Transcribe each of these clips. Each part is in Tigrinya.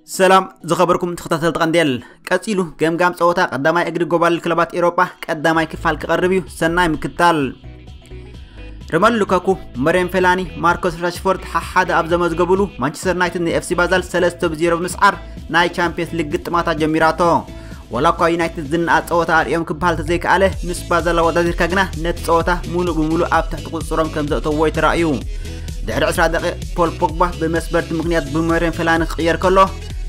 ሰላም ዝኸበርኩም ተኸታተልቲ ቀንዴል ቀፂሉ ገምጋም ፀወታ ቀዳማይ እግሪ ጎባል ክለባት ኤሮጳ ቀዳማይ ክፋል ክቐርብ እዩ ሰናይ ምክታል ርመን ሉካኩ፣ መሬን ፌላኒ፣ ማርኮስ ራሽፎርድ ሓሓደ ኣብ ዘመዝገቡሉ ማንቸስተር ዩናይትድ ንኤፍሲ ባዛል 3 ብ 0 ብምስዓር ናይ ቻምፒየንስ ሊግ ግጥማታ ጀሚራቶ ዋላ እኳ ዩናይትድ ዝነኣድ ጸወታ ኣርእዮም ክበሃል ተዘይከኣለ ምስ ባዛል ኣወዳዲርካ ግና ነቲ ጸወታ ሙሉእ ብሙሉእ ኣብ ትሕቲ ቁፅፅሮም ከም ዘእተዎ እዩ ተራእዩ ድሕሪ 20 ደቂቕ ፖል ፖግባ ብመስበርቲ ምክንያት ብመሬን ፌላኒ ክቕየር ከሎ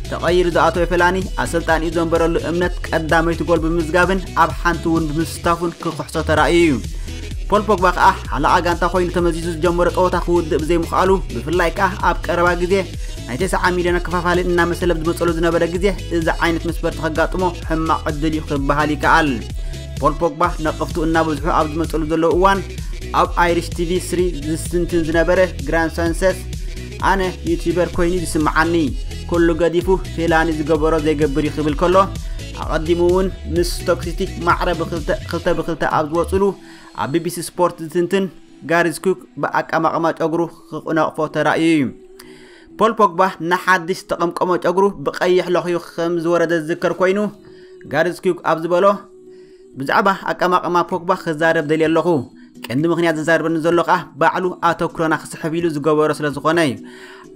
ተቐይሩ ዝኣተወ ፌላኒ ኣሰልጣኒኡ ዘንበረሉ እምነት ቀዳመይቲ ጎል ብምዝጋብን ኣብ ሓንቲ እውን ብምስ ስታፉን ክክሕሶ ተራእዩ እዩ። ፖል ፖግባ ከኣ ሓለቓ ጋንታ ኮይኑ ተመዚዙ ዝጀመሮ ጸወታ ክውድእ ብዘይምኽኣሉ ብፍላይ ከኣ ኣብ ቀረባ ግዜ ናይ 90 ሚልዮን ኣከፋፋሊ እናመሰለ ኣብ ዝመጸሉ ዝነበረ ግዜ እዚ ዓይነት መስፈርቲ ከጋጥሞ ሕማቕ ዕድል እዩ ክበሃል ይከኣል። ፖል ፖግባ ነቐፍቱ እናበዝሑ ኣብ ዝመጸሉ ዘለዉ እዋን ኣብ ኣይሪሽ ቲቪ ስሪ ዝስትንትን ዝነበረ ግራን ሳንሰስ ኣነ ዩቲበር ኮይኑ ዝስምዓኒ ኩሉ ገዲፉ ፌላኒ ዝገበሮ ዘይገብር እዩ ክብል ከሎ ኣቐዲሙ እውን ምስ ስቶክ ሲቲ ማዕረ ብክልተ ክልተ ብክልተ ኣብ ዝወፅሉ ኣብ ቢቢሲ ስፖርት ዝትንትን ጋሪዝ ኩክ ብኣቀማቕማ ጨጉሩ ክነቕፎ ተራእዩ እዩ ፖል ፖግባ ንሓድሽ ዝተቐምቀሞ ጨጉሩ ብቀይሕ ለኽዩ ከም ዝወረደ ዝዝከር ኮይኑ ጋሪዝ ኩክ ኣብ ዝበሎ ብዛዕባ ኣቀማቕማ ፖግባ ክዛረብ ደልየ ኣለኹ ቀንዲ ምክንያት ዝዛርበኒ ዘሎ ከዓ ባዕሉ ኣተኩረና ክስሕብ ኢሉ ዝገበሮ ስለ ዝኾነ እዩ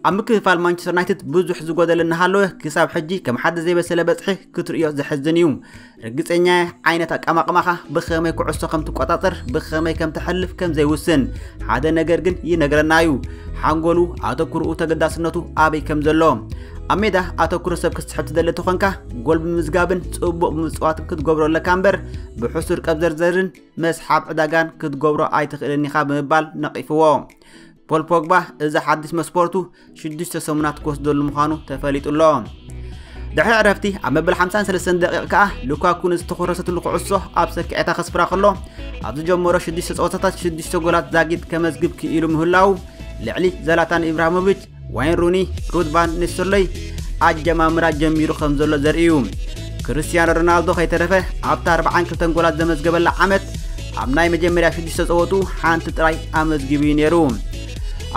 ኣብ ምክፍፋል ማንቸስተር ዩናይትድ ብዙሕ ዝጎደለ እናሃለወ ክሳብ ሕጂ ከም ሓደ ዘይበሰለ በፅሒ ክትርእዮ ዘሕዝን እዩ ርግፀኛ ዓይነት ኣቀማቕማኻ ብኸመይ ኩዕሶ ከም ትቆፃፀር ብኸመይ ከም ተሕልፍ ከም ዘይውስን ሓደ ነገር ግን ይነግረና እዩ ሓንጎሉ ኣተኩርኡ ተገዳስነቱ ኣበይ ከም ዘሎ ኣብ ሜዳ ኣተኩሮ ሰብ ክትስሕብ ትደሊ ተኾንካ ጎል ብምዝጋብን ጽቡቕ ብምጽዋትን ክትገብሮ ኣለካ እምበር ብሕሱር ቀብዘርዘርን መስሓብ ዕዳጋን ክትገብሮ ኣይትኽእልን ኢኻ ብምባል ነቒፍዎ ፖል ፖግባ እዚ ሓድሽ መስፖርቱ ሽዱሽተ ሰሙናት ክወስደሉ ምዃኑ ተፈሊጡ ኣሎ ድሕሪ ዕረፍቲ ኣብ መበል 53 ደቂቕ ከኣ ሉካኩ ንዝተኾረሰትሉ ኩዕሶ ኣብ ሰኪዔታ ከስፍራ ከሎ ኣብ ዝጀመሮ ሽዱሽተ ፀወታታት ሽዱሽተ ጎላት ዛጊት ከመዝግብ ክኢሉ ምህላው ልዕሊ ዘላታን ኢብራሂሞቪች ዋይን ሩኒ ሩትባን ንስርሎይ ኣጀማምራ ጀሚሩ ከም ዘሎ ዘርኢ እዩ ክርስትያኖ ሮናልዶ ከይተረፈ ኣብታ 42 ጎላት ዘመዝገበላ ዓመት ኣብ ናይ መጀመርያ ሽዱሽተ ጸወቱ ሓንቲ ጥራይ ኣመዝጊቡ እዩ ነይሩ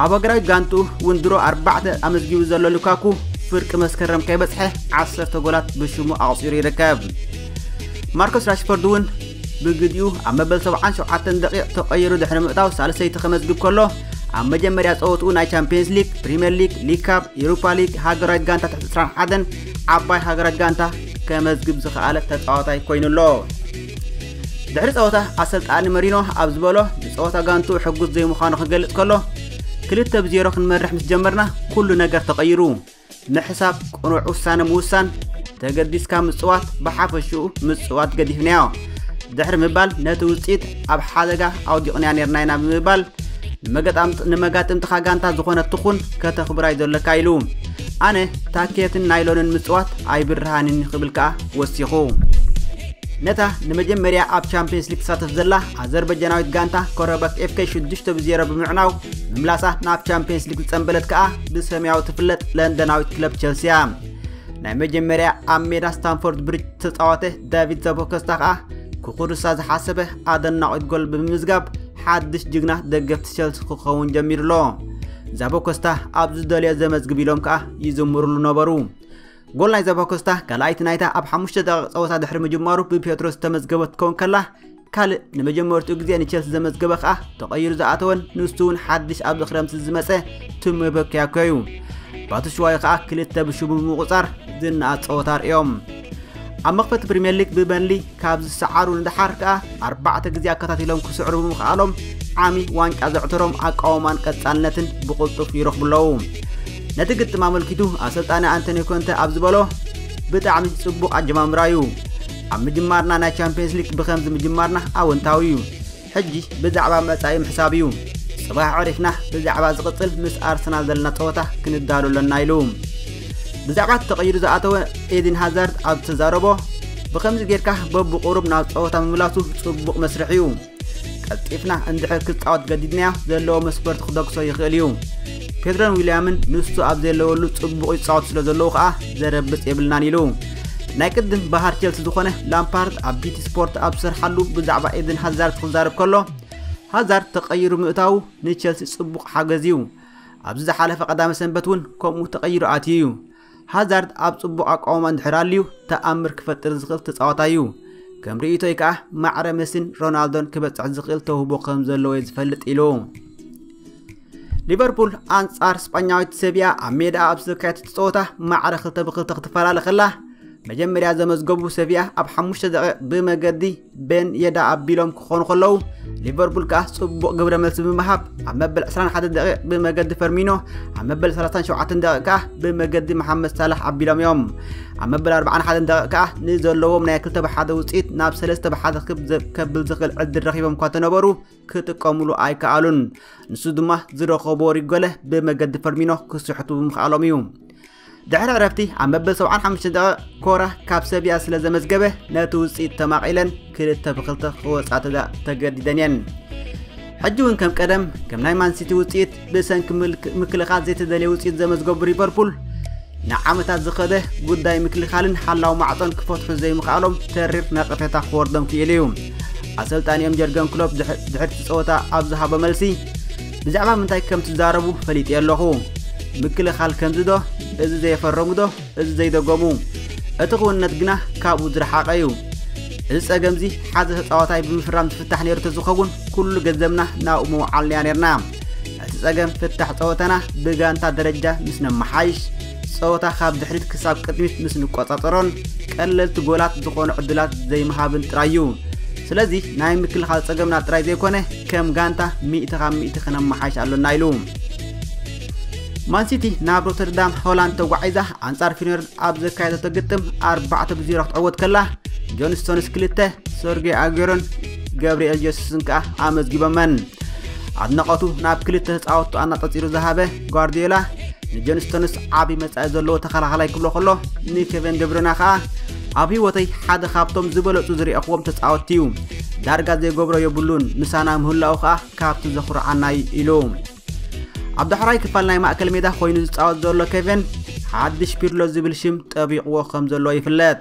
ኣብ ሃገራዊ ጋንትኡ እውን ድሮ ኣርባዕተ ኣመዝጊቡ ዘሎ ሉካኩ ፍርቂ መስከረም ከይበጽሐ ዓሰርተ ጎላት ብሽሙ ኣቑጺሩ ይርከብ ማርኮስ ራሽፎርድ እውን ብግዲኡ ኣብ መበል 77 ደቂቕ ተቐይሩ ድሕሪ ምእታው ሳልሰይቲ ከመዝግብ ከሎ ኣብ መጀመርያ ጸወትኡ ናይ ቻምፒየንስ ሊግ ፕሪምየር ሊግ ሊግ ካብ ኤሮፓ ሊግ ሃገራዊት ጋንታ ትሕቲ 21 ዓባይ ሃገራት ጋንታ ከመዝግብ ዝኸኣለ ተጻዋታይ ኮይኑ ኣሎ ድሕሪ ጸወታ ኣሰልጣኒ መሪኖ ኣብ ዝበሎ ንጸወታ ጋንቱ ሕጉስ ዘይምዃኑ ክገልጽ ከሎ ክልተ ብዜሮ ክንመርሕ ምስ ጀመርና ኩሉ ነገር ተቐይሩ ምሕሳብ ቅኑዕ ውሳነ ምውሳን ተገዲስካ ምፅዋት ብሓፈሽኡ ምፅዋት ገዲፍናዮ ድሕሪ ምባል ነቲ ውፅኢት ኣብ ሓደጋ ኣውዲቕንያ ነርና ኢና ብምባል ንመጋጥምትኻ ጋንታ ዝኾነት ትኹን ከተኽብራይ ዘለካ ኢሉ ኣነ ታኬትን ናይሎንን ምፅዋት ኣይብርሃንን ክብል ከዓ ወሲኹ ነታ ንመጀመርያ ኣብ ቻምፒየንስ ሊግ ትሳተፍ ዘላ ኣዘርበጃናዊት ጋንታ ኮረበክ ኤፍከ 6 ብ0 ብምዕናው ምምላሳ ናብ ቻምፒየንስ ሊግ ዝፀንበለት ከዓ ብሰማያዊ ትፍለጥ ለንደናዊት ክለብ ቸልሲ እያ ናይ መጀመርያ ኣብ ሜዳ ስታንፎርድ ብሪጅ ተፃወተ ዳቪድ ዘቦከስታ ከዓ ክኹርሳ ዝሓሰበ ኣደናቂት ጎል ብምምዝጋብ ሓድሽ ጅግና ደገፍቲ ቸልሲ ክኸውን ጀሚሩ ኣሎ ዛቦኮስታ ኣብ ዝደልዮ ዘመዝግብ ኢሎም ከዓ ይዝምሩሉ ነበሩ ጎል ናይ ዛቦኮስታ ካልኣይቲ ናይታ ኣብ ሓሙሽተ ደቂቕ ፀወታ ድሕሪ ምጅማሩ ብፔትሮስ ዝተመዝገበት ክኸውን ከላ ካልእ ንመጀመርትኡ ግዜ ንቸልሲ ዘመዝገበ ከኣ ተቐይሩ ዝኣተወን ንሱ እውን ሓድሽ ኣብዚ ክረምቲ ዝመጸ ቱሜ በኪያኮ እዩ ባትሽዋይ ከኣ ክልተ ብሽቡ ብምቑጻር ዝነኣድ ጸወታ ኣርእዮም ኣብ መኽፈቲ ፕሪምየር ሊግ ብበሊ ካብ ዝሰዓሩ ንደሓር ከኣ ኣርባዕተ ግዜ ኣከታቲሎም ክስዕሩ ብምኽኣሎም ዓሚ ዋንጫ ዘዕተሮም ኣቃውማን ቀጻልነትን ብቕልጡፍ ይረኽቡ ኣለዉ ነቲ ግጥም ኣመልኪቱ ኣሰልጣኒ ኣንቶኒ ኮንተ ኣብ ዝበሎ ብጣዕሚ ጽቡቕ ኣጀማምራ እዩ ኣብ ምጅማርና ናይ ቻምፒየንስ ሊግ ብኸምዚ ምጅማርና ኣወንታዊ እዩ ሕጂ ብዛዕባ መጻኢ ምሕሳብ እዩ ጽባሕ ዕሪፍና ብዛዕባ ዝቕጽል ምስ ኣርሰናል ዘለና ጸወታ ክንዳሉ ኣለና ኢሉ ብዛዕባ እቲ ተቐይሩ ዝኣተወ ኤድን ሃዛርድ ኣብ ዝተዛረቦ ብኸምዚ ጌርካ በብቑሩብ ናብ ጸወታ ምምላሱ ጽቡቕ መስርሕ እዩ ቀልጢፍና እንድሕር ክጻወት ገዲድናዮ ዘለዎ መስፈርቲ ክደግሶ ይኽእል እዩ ፔድሮን ዊልያምን ንሱ ኣብ ዘለወሉ ጽቡቕ ይጻወት ስለ ዘለዉ ከኣ ዘረብጽ የብልናን ኢሉ ናይ ቅድም ባህር ቸልሲ ዝኾነ ላምፓርድ ኣብ ቢቲ ስፖርት ኣብ ዝሰርሓሉ ብዛዕባ ኤድን ሃዛርድ ክዛረብ ከሎ ሃዛርድ ተቐይሩ ምእታዉ ንቸልሲ ጽቡቕ ሓገዝ እዩ ኣብዚ ዝሓለፈ ቀዳመ ሰንበት እውን ከምኡ ተቐይሩ ኣትዩ እዩ ሃዛርድ ኣብ ጽቡቕ ኣቋውማ እንድሕር ኣልዩ ተኣምር ክፈጥር ዝኽእል ተጻዋታይ እዩ። ከም ርእይቶይ ከኣ ማዕረ መሲን ሮናልዶን ክበጽሕ ዝኽእል ተውህቦ ከም ዘለዎ እየ ዝፈልጥ ኢሉ። ሊቨርፑል ኣንጻር ስጳኛዊት ሰቪያ ኣብ ሜዳ ኣብ ዝተካየደት ጸወታ ማዕረ ክልተ ብክልተ ክትፈላለ ከላ መጀመርያ ዘመዝገቡ ሰቪያ ኣብ ሓሙሽተ ደቂቕ ብመገዲ ቤን የዳ ኣቢሎም ክኾኑ ከለዉ ሊቨርፑል ከኣ ጽቡቕ ግብረ መልሲ ብምሃብ ኣብ መበል 21 ደቂቕ ብመገዲ ፈርሚኖ ኣብ መበል 37 ደቂቕ ከኣ ብመገዲ መሓመድ ሳላሕ ኣቢሎም እዮም ኣብ መበል 41 ደቂቕ ከኣ ንዘለዎም ናይ 2 ብሓደ ውፅኢት ናብ 3 ብሓደ ከብል ዝኽእል ዕድል ረኺቦም እኳ ተነበሩ ክጥቀሙሉ ኣይከኣሉን ንሱ ድማ ዝረኸቦ ሪጎለ ብመገዲ ፈርሚኖ ክስሕቱ ብምኽኣሎም እዩ ድሕሪ ዕረፍቲ ኣብ መበል 75 ደቂቕ ኮራ ካብ ሰብያ ስለ ዘመዝገበ ነቲ ውፅኢት ተማቒለን ክልተ ብክልተ ክወፃ ተገዲደን እየን ሕጂ እውን ከም ቀደም ከም ናይ ማንሲቲ ውፅኢት ብሰንኪ ምክልኻል ዘይተደለየ ውፅኢት ዘመዝገቡ ሊቨርፑል ንዓመታት ዝኸደ ጉዳይ ምክልኻልን ሓላው ማዕፆን ክፈትሑ ዘይምኽኣሎም ተሪር ነቐፌታ ክወርዶም ክኢሉ እዩ ኣሰልጣኒኦም ጀርገን ክሎፕ ድሕርቲ ፀወታ ኣብ ዝሃቦ መልሲ ብዛዕባ ምንታይ ከም ትዛረቡ ፈሊጤ ኣለኹ ምክልኻል ከምዚ ዶ እዚ ዘየፈረሙ ዶ እዚ ዘይደገሙ እቲ ክውንነት ግና ካብኡ ዝረሓቐ እዩ እዚ ጸገምዚ ሓዘ ተጻዋታይ ብምፍራም ትፍታሕ ነይሩ ተዝኸውን ኩሉ ገንዘብና ናብኡ ምውዓልናያ ነርና እቲ ጸገም ፍታሕ ጸወታና ብጋንታ ደረጃ ምስ ነመሓይሽ ጸወታ ካብ ድሕሪት ክሳብ ቅድሚት ምስ ንቆጻጸሮን ቀለልቲ ጎላት ዝኾኑ ዕድላት ዘይምሃብን ጥራይ እዩ። ስለዚ ናይ ምክልኻል ጸገምና ጥራይ ዘይኮነ ከም ጋንታ ሚእቲ ካብ ሚእቲ ክነመሓይሽ ኣሎና ኢሉ። ማንሲቲ ናብ ሮተርዳም ሆላንድ ተጓዒዛ ኣንጻር ፊነርድ ኣብ ዘካየደቶ ግጥም ኣርባዕተ ብዜሮ ክትዕወት ከላ ጆን ስቶንስ ክልተ ሰርጌ ኣጌሮን ገብርኤል ጀሱስን ከኣ ኣመዝጊቦመን። ኣድናቖቱ ናብ ክልተ ተጻወቱ ኣናጸጺሩ ዝሃበ ጓርዲዮላ ንጆን ስቶንስ ዓብዪ መጻኢ ዘለዎ ተኸላኻላይ ክብሎ ከሎ ንኬቨን ደብረና ከኣ ኣብ ህይወተይ ሓደ ካብቶም ዝበለጹ ዝርኣኹዎም ተጻወትቲ እዩ ዳርጋ ዘይገብሮ የብሉን ምሳና ምህላኡ ከኣ ካብቲ ዘኹርዓና እዩ ኢሉ ኣብ ዳሕራይ ክፋል ናይ ማእከል ሜዳ ኮይኑ ዝጻወት ዘሎ ኬቨን ሓድሽ ፒርሎ ዝብል ሽም ጠቢቕዎ ከም ዘሎ ይፍለጥ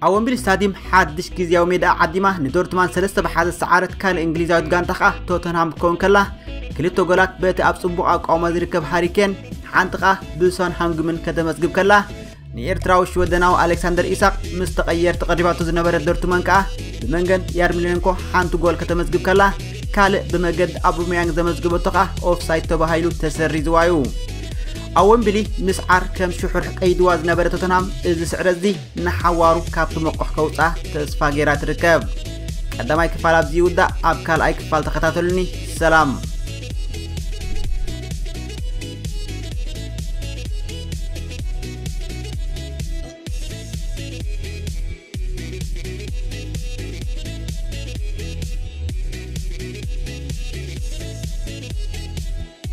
ኣብ ወምብሊ ስታዲየም ሓድሽ ግዜያዊ ሜዳኣ ዓዲማ ንዶርትማን ሰለስተ ብሓደ ዝሰዓረት ካልእ እንግሊዛዊት ጋንታ ከዓ ቶተንሃም ክኸውን ከላ ክልተ ጎላት በቲ ኣብ ጽቡቕ ኣቋውማ ዝርከብ ሃሪኬን ሓንቲ ከዓ ብሶን ሃንግምን ከተመዝግብ ከላ ንኤርትራዊ ሽወደናዊ ኣሌክሳንደር ኢሳቅ ምስ ተቐየርቲ ቀሪባቶ ዝነበረ ዶርትመን ከዓ ብመንገድ ያርሚሌንኮ ሓንቲ ጎል ከተመዝግብ ከላ ካልእ ብመገዲ ኣቡሜያንግ ዘመዝገበቶ ከዓ ኦፍሳይድ ተባሂሉ ተሰሪዝዋ እዩ ኣብ ወምብሊ ምስዓር ከም ሽሑር ቀይድዋ ዝነበረ ቶተናም እዚ ስዕረት እዚ ንሓዋሩ ካብቲ መቑሕ ከውፅኣ ተስፋ ገይራ ትርከብ ቀዳማይ ክፋል ኣብዚ ይውዳእ ኣብ ካልኣይ ክፋል ተኸታተሉኒ ሰላም